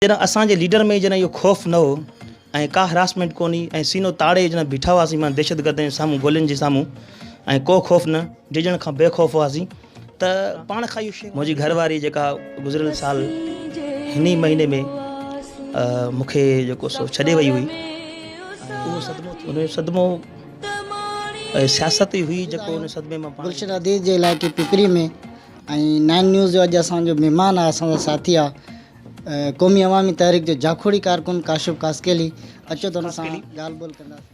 جڏهن اسان جي ليڊر ۾ جڏهن اهو خوف نه هو ۽ ڪا هراسمينٽ ڪونه هئي ۽ سينو تاڙي جڏهن بيٺا هئاسين مان دهشتگردن جي سامهون گولين جي سامهون ۽ ڪو خوف نه ڊڄڻ کان بي خوف هئاسين ته پاڻ کان اهو منهنجي گهر واري جيڪا گذريل سال هن ئي مهيني ۾ مونکي جيڪو سو ڇڏي وئي هئي اهو صدمو ان جو صدمو سياست ئي هئي جيڪو ان صدمي مان گلشن عزيز جي علائقي پپري ۾ ۽ نائن نيوز جو اڄ اسان جو مهمان آهي اسان سان ساٿي آهي قومي عوامي تحريڪ جو جاکوڙي ڪارڪن ڪاشف ڪاسڪيلي اچو ته ان سان ڳالهه ٻولهه ڪنداسين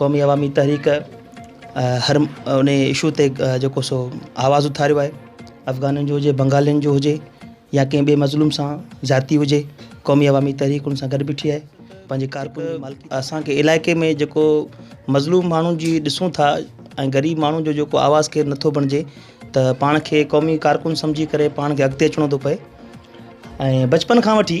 قومي عوامي تحريڪ هر ان اشو تي جيڪو سو آواز اٿاريو آهي افغانن جو هجي بنگالين جو هجي يا ڪنهن ٻئي مظلوم سان ذاتي هجي قومي عوامي تحريڪ ان سان گڏ بيٺي آهي پنهنجي ڪارڪن اسانکي علائقي ۾ جيڪو مظلوم ماڻهن جي ڏسون ٿا ۽ غريب ماڻهن جو جيڪو آواز ڪير نٿو بڻجي ته پاڻ کي قومي ڪارڪن سمجهي ڪري پاڻ کي اڳتي اچڻو ٿو پئي ۽ بچپن کان وٺي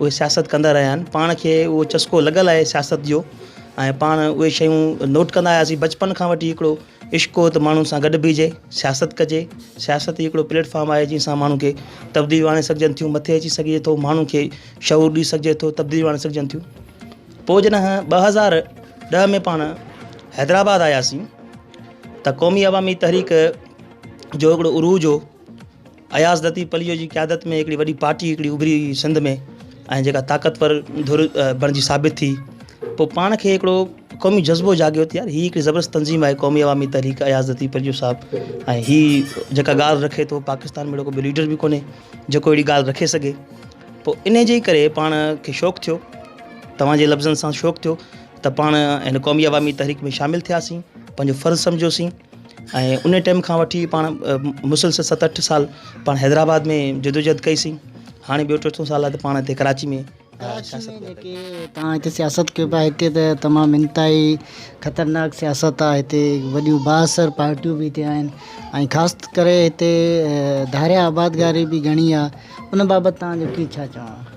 اهي سياست ڪندا رهيا آهن پاڻ کي اهو چسڪو لڳل آهي سياست جو ۽ پاڻ اهي شيون نوٽ ڪندا آياسين بچپن کان وٺي هڪڙو عشق هو ته ماڻهن سان گڏ بيهجي سياست ڪجي سياست هي هڪڙو پليٽ فارم آهي جنهن سان ماڻهن کي تبديليون آڻي سگهجن ٿيون مٿي اچي سگهجي ٿو ماڻهن کي شعور ڏئي سگهجي ٿو تبديليون آڻي سگهجن ٿيون پوء جڏهن ٻه هزار ڏهه ۾ پاڻ حيدرآباد آياسين ته قومي عوامي تحريڪ جو هڪڙو عروج هو اياز لطيف پليجو جي قيادت ۾ هڪڙي وڏي پارٽي هڪڙي اڀري هئي سنڌ ۾ ۽ جيڪا طاقتور ڌر بڻجي ثابت ٿي پوء پاڻ کي هڪڙو قومي جذبو جاڳيو ته يار هي هڪڙي زبردست تنظيم آهي قومي عوامي تحريڪ اياز لطيف پليجو صاحب ۽ هي جيڪا ڳالهه رکي ٿو پاڪستان ۾ اهڙو ڪو ليڊر به ڪونهي جيڪو اهڙي ڳالهه رکي سگهي پوء ان جي ڪري پاڻ کي شوق ٿيو توهان جي لفظن سان شوق ٿيو ته پاڻ هن قومي عوامي تحريڪ ۾ شامل ٿياسين پنهنجو فرض سمجهيوسين ۽ ان ٽيم کان وٺي پاڻ مسلسل ست اٺ سال پاڻ حيدرآباد ۾ جدوجھد ڪئي سين هاڻي ٻيو ٽيون سال آهي ته پاڻ هتي ڪراچي ۾ ڪراچي ۾ جيڪي پاڻ هتي سياست ڪيو پيا هتي ته تمام انتهائي خطرناڪ سياست آهي هتي وڏيون بااثر پارٽيون به هتي آهن ۽ خاص ڪري هتي ڌاريا آبادگاري به گهڻي آهي ان بابت تان جو ڪي ڇا چوڻ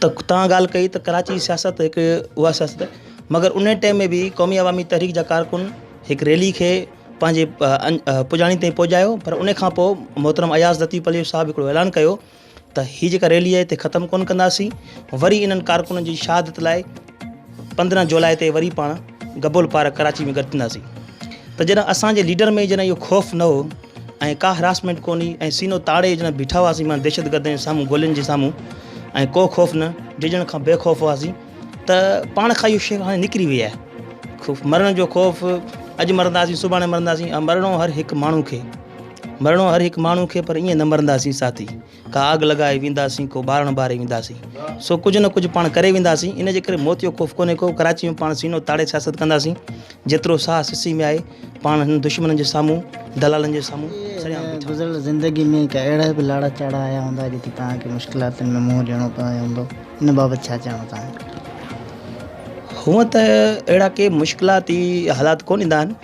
ته توهان ڳالهه ڪئي ته ڪراچي جي سياست هڪ اها سياست آهي مگر ان ٽائيم ۾ به قومي عوامي تحريڪ جا ڪارڪن هڪ ريلي کي پنهنجي پڄاڻي تائين پهچايو پر ان کان پوء محترم اياز لطيف عليو صاحب هڪڙو اعلان ڪيو ته هي جيڪا ريلي آهي هتي ختم ڪونه ڪنداسين وري انهن ڪارڪنن جي شهادت لاء پندرهن جولاء تي وري پاڻ گبول پارڪ ڪراچي ۾ گڏ ٿينداسين ته جڏهن اسان جي ليڊر ۾ جڏهن اهو خوف نه هو ۽ ڪا هراسمينٽ ڪونهي ۽ سينو تاڙي جڏهن بيٺا هئاسين مان دهشتگردن جي سامهون گولين جي سامهون ۽ ڪو خوف نه ڊڄڻ کان بي خوف هئاسين ته پاڻ کان اهو شيء هاڻي نڪري وئي آهي خوف مرڻ جو خوف اڄ مرنداسين سڀاڻي مرنداسين مرڻو هر هڪ ماڻهو کي مرڻو هر هڪ ماڻهو کي پر ائين نه مرنداسين ساٿي ڪا آڳ لڳائي وينداسين، ڪو ٻارڻ ٻاري وينداسين، سو ڪجهه نه ڪجهه پاڻ ڪري وينداسين، ان جي ڪري موت جو خوف ڪونهي ڪو، ڪراچي ۾ پاڻ سينو تاڙي سياست ڪنداسين، جيترو ساهه سسي ۾ آهي، پاڻ هنن دشمنن جي سامهون، دلالن جي سامهون سرعام بيٺا هوندا. گذريل زندگي ۾ ڪا اهڙا به لاڙا چاڙها آيا هوندا، جتي توهان کي مشڪلاتن ۾ منهن ڏيڻو پيو هوندو، ان بابت ڇا چوڻ ٿا؟ هونئن ته اهڙا ڪي مشڪلاتي حالات ڪونه ايندا آهن،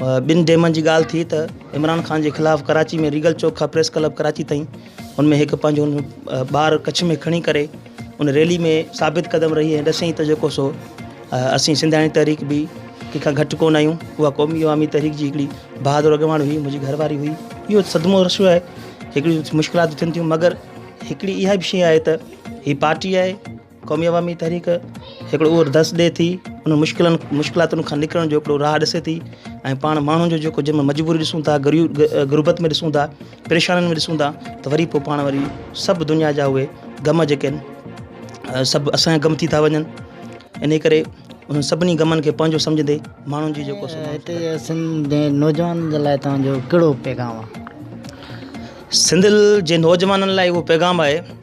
ٻن ڊيمن جي ڳالهه ٿي ته عمران خان جي خلاف ڪراچي ۾ ريگل چوڪ کان پريس ڪلب ڪراچي تائين ان ۾ هڪ پنهنجو ٻار ڪڇ ۾ کڻي ڪري ان ريلي ۾ ثابت قدم رهي ۽ ڏسين ته جيڪو سو اسين سنڌياڻي تحريڪ به ڪنهن کان گهٽ ڪونه آهيون اها قومي عوامي تحريڪ جي هڪڙي بهادر اڳواڻ هئي منهنجي گهر واري هئي اهو صدمو رسيو آهي هڪڙي مشڪلات ٿين ٿيون مگر هڪڙي اها به شيء آهي ته هي پارٽي آهي قومي عوامي تحريڪ هڪڙو اهو درس ڏي ٿي انهن مشڪلن مشڪلاتن کان نڪرڻ جو هڪڙو راهه ڏسي ٿي ۽ پاڻ ماڻهن جو جيڪو جنهن ۾ مجبوري ڏسون ٿا غربت ۾ ڏسون ٿا پريشانين ۾ ڏسون ٿا ته وري پوء پاڻ وري سڀ دنيا جا اهي غم جيڪي آهن سڀ اسان جا غم ٿي ٿا وڃن انهي ڪري انهن سڀني غمن کي پنهنجو سمجهندي ماڻهن جي جيڪو هتي سنڌ جي نوجوانن جي لاء توهان جو ڪهڙو پيغام آهي سنڌ جي نوجوانن لاء اهو پيغام آهي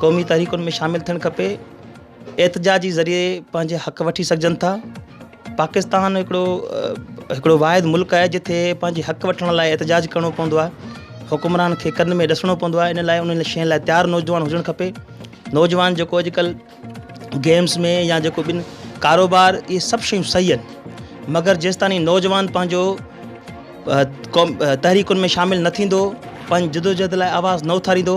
قومي تحريڪن ۾ شامل ٿيڻ کپي احتجاج جي ذريعي پنهنجي حق وٺي سگهجن ٿا پاڪستان هڪڙو هڪڙو واحد ملڪ آهي جتي پنهنجي حق وٺڻ لاء احتجاج ڪرڻو پوندو آهي حڪمران کي ڪن ۾ ڏسڻو پوندو آهي ان لاء ان شين لاء تيار نوجوان هجڻ کپي نوجوان جيڪو اڄڪلهه گيمس ۾ يا جيڪو ٻن ڪاروبار اهي سڀ شيون صحيح آهن مگر جيستاني نوجوان پنهنجو تحريڪن ۾ شامل نه ٿيندو پنهنجي جدوجهد لاء آواز نه اٿاريندو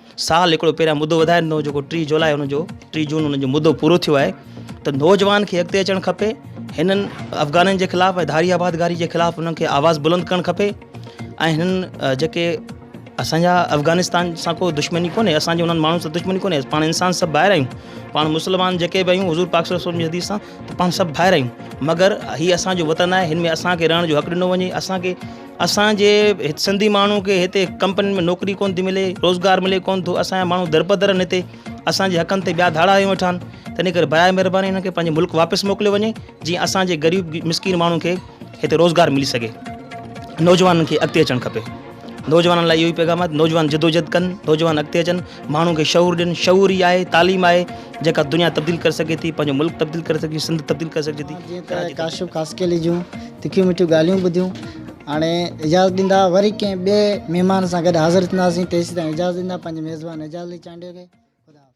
سال هڪڙو پهريان مدو وڌائي ڏنو جيڪو ٽي جولاء ان جو ٽي جون ان جو مدو پورو ٿيو آهي ته نوجوان کي اڳتي اچڻ کپي هنن افغانن جي خلاف ۽ ڌاري آبادگاري جي خلاف انهن کي آواز بلند ڪرڻ کپي ۽ هنن جيڪي اسانجا افغانستان سان کو دشمني ڪونهي اسانجي انهن ماڻهن سان دشمني ڪونهي پاڻ انسان سڀ ٻاهر آهيون پاڻ مسلمان جيڪي به آهيون حضور پاڪ صلي وسلم جي حديث سان ته پاڻ سڀ ڀائر آهيون مگر هي اسانجو وطن آهي هن ۾ اسانکي رهڻ جو حق ڏنو وڃي اسانکي اسان جي سنڌي ماڻهو کي هتي ڪمپنين ۾ نوڪري ڪونه ٿي ملي روزگار ملي ڪونه ٿو اسان جا ماڻهو در بدر آهن هتي اسان جي حقن تي ٻيا ڌاڙا هنيو ويٺا آهن تنهن ڪري برائي مهرباني هنن کي پنهنجي ملڪ واپس موڪليو وڃي جيئن اسان جي غريب مسڪين ماڻهن کي هتي روزگار ملي سگهي نوجوانن کي اڳتي اچڻ کپي نوجوانن لاء اهو ئي پيغام آهي نوجوان جدوجھد ڪن نوجوان اڳتي اچن ماڻهن کي شعور ڏين، شعور ئي آهي، تعليم آهي جيڪا دنيا تبديل ڪري سگهي ٿي، پنهنجو ملڪ تبديل ڪري سگهجي، سنڌ تبديل ڪري سگهجي ٿي. جيئن ته ڪاشف خاصخيلي جون تکيون مٺيون ڳالهيون ٻڌيون هاڻي اجازت ڏيندا وري ڪنهن ٻئي مهمان سان گڏ حاضر ٿينداسين تيسيتائين اجازت ڏيندا پنهنجي ميزبان اعجاز علي چانڊيو کي خدا حافظ.